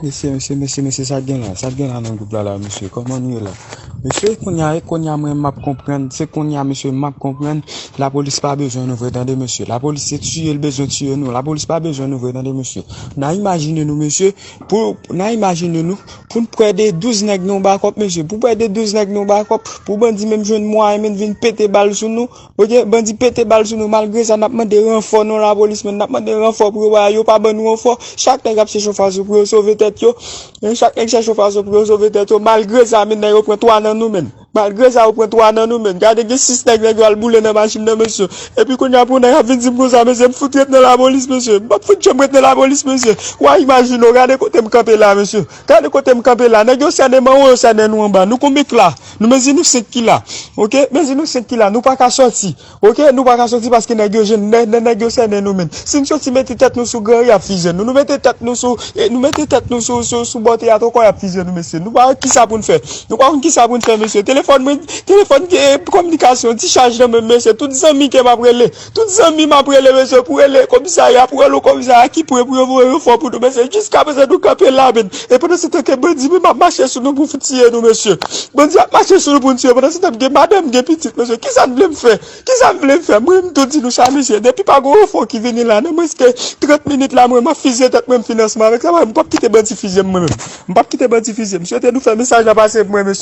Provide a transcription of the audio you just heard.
Mesye mesye mesye mesye sak gen la sak gen la nan gwoup la la mesye kòman nou ye la mesye kounya e kounya mwen map konprann se kounya mesye map konprann lapolis pa bezwen nou vre tande mesye lapolis se tiye l bezwen tiye nou lapolis pa bezwen nou vre tande mesye na imajine nou mesye pou na imajine nou pou n pwè de 12 nèg nan yon bakòp mesye pou pwè de 12 nèg nan yon bakòp pou bandi menm jwenn mwayen menm vin pete bal sou nou Ok bandi pete bal sou nou malgre sa nap mande ranfò non lapolis men nap mande ranfò pou yo ba yo pa ban nou ranfò chak nèg ap chèche yon fason pou yo sove tèt yo chak nèg chèche yon fason pou yo sove tèt yo malgre sa men yo pran 3 nan nou menm malgre sa yo pran 3 nan nou menm gade gen 6 nèg nèg yo al boule nan machin nan mesye epi kounye a pou yon nèg ap vin dim konsa mesye m fout ret nan lapolis mesye m pap fout janm ret nan lapolis mesye wa imajine w gade kote m kanpe la mesye gade kote m kanpe la nèg yo sènen m anwo yo sènen nou anba nou konbit la Nou mezi nou 5 ki la ok mezi nou 5 ki la nou paka soti ok nou paka soti paske nèg yo jèn nè nè nèg yo sènen nou menm si n soti mete tèt nou sou gran ri yap fizye nou nou mete tèt nou sou e nou mete tèt nou sou sou sou bò teyat ankò yap fizye nou mesye nou pa wè kisa pou n fè nou pa konn kisa pou n fè mesye telefòn mwen telefòn e kominikasyon ti chaj nan menm mesye tout zanmi ke map rele Tout zanmi m ap rele mesye pou rele komisè a y ap rele komisè a ki pre pou yo voye ranfò pou nou mesye jiskaprezan nou kanpe la men e pandansetan ke bandi menm ap mache sou nou pou fout tiye nou mesye bandi ap mache sou nou pou nou tiye pandansetan m gen madan m gen pitit mesye kisa n vle m fè kisa n vle m fè mwen m tou di nou sa mesye depi pa gon ranfò ki vini la nan mwens ke 30 minit la mwen m ap fizye tèt mwen m fin ansanm avèk sa paske m pap kite bandi fizye m mwen menm m pap kite bandi fizye m swete nou fè mesaj la pase pou mwen mesye.